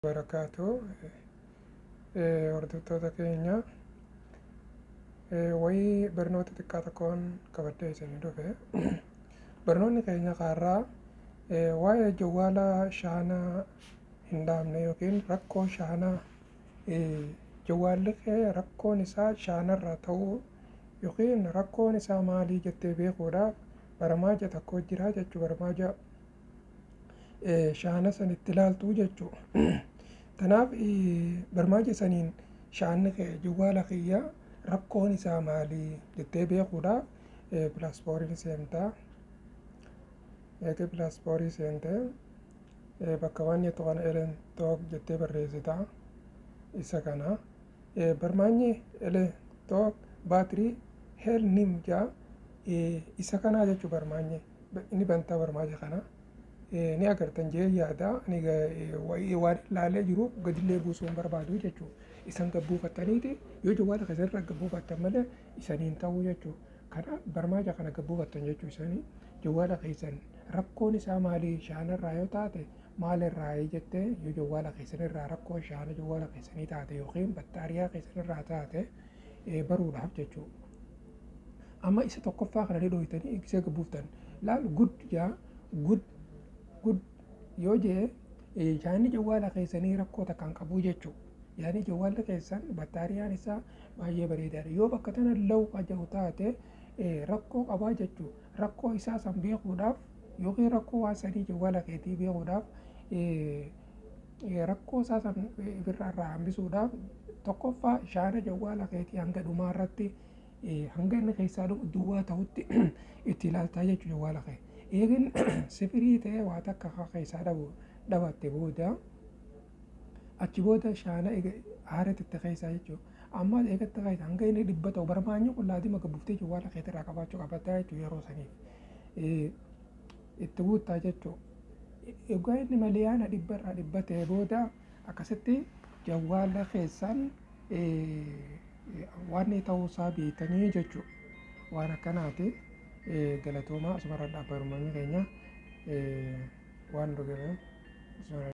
barakaatu eh, hordoftoota keenya eh, wayii barnoota xiqqaa tokkoon qabadhee isin dhufe barnoonni keenya kaarraa eh, waa'ee jawwaala shaanaa hin dhaabne yookiin rakkoo shaanaa eh, jawwaalli kee rakkoon isaa shaanarraa ta'uu yookiin rakkoon isaa maalii jettee beekuudhaaf baramaaja tokko jira jechuu baramaaja shaana san itti laaltu jechuu tanaaf barmaaja saniin shaanni kee jawwaala kiyya rakkoon isaa maalii jettee beekuudha pilaaspooriin seentaa eegee pilaaspooriin seentee bakka waan jettu kana elen took jettee barreessitaa isa kana barmaanyi elen took baatirii hel nim jaa isa kanaa jechuu barmaanyi ni bantaa barmaaja kana ni agartan jee yaada ani waan laalee jiru gadillee buusuu hin barbaadu jechuudha. Isan gabbuufattaniiti yoo jawwaala keessan irra gabbuufattan malee isaniin ta'uu jechuudha. Kana barmaaja kana gabbuufattan jechuu isanii jawwaala keessan rakkoon isaa maalii shaanarraa yoo taate maalirraa jettee yoo jawwaala keessan irraa rakkoo shaana jawwaala keessanii taate yookiin battaariyaa keessan irraa taate baruudhaaf jechuudha. Amma isa tokkoffaa kana ni dhooytanii eebbisee akka buuftan. Laal good jaa good good yoo jee eh, yaadni jawwaala keessanii rakkoo takka hin qabuu jechuu. Yaadni jawwaalli keessan battaariyaan isaa baay'ee bareedaadha. Yoo bakka tana law ka jedhu taate eh, rakkoo qabaa jechuu. Rakkoo isaa san beekuudhaaf yookiin rakkoo waan sanii jawwaala keetii beekuudhaaf eh, Rakkoo isaa san ifirraa irraa hambisuudhaaf tokkoffaa shaana jawwaala keetii hanga dhumaa irratti hanga inni keessaa duwwaa ta'utti itti ilaaltaa jechuudha jawwaala kee. Eegin sifirii ta'ee waa takka akka keessaa dhabu dhabatte booda achi booda shaana haarati itti keessaa jechuudha. Ammas eegatti keessa hanga inni dhibba ta'u barmaanyi qullaatii maka buftee jawwaala keetirraa qabaachuu qabataa jechuudha yeroo saniif. itti guuttaa jechuu egaa inni maliyaana dhibba irraa dhibba ta'e booda akkasitti jawwaala keessan waan ta'uu isaa beekanii jechuu waan akkanaati galatoomaa asumarra dhaabbarumanii keenya waan dhugaa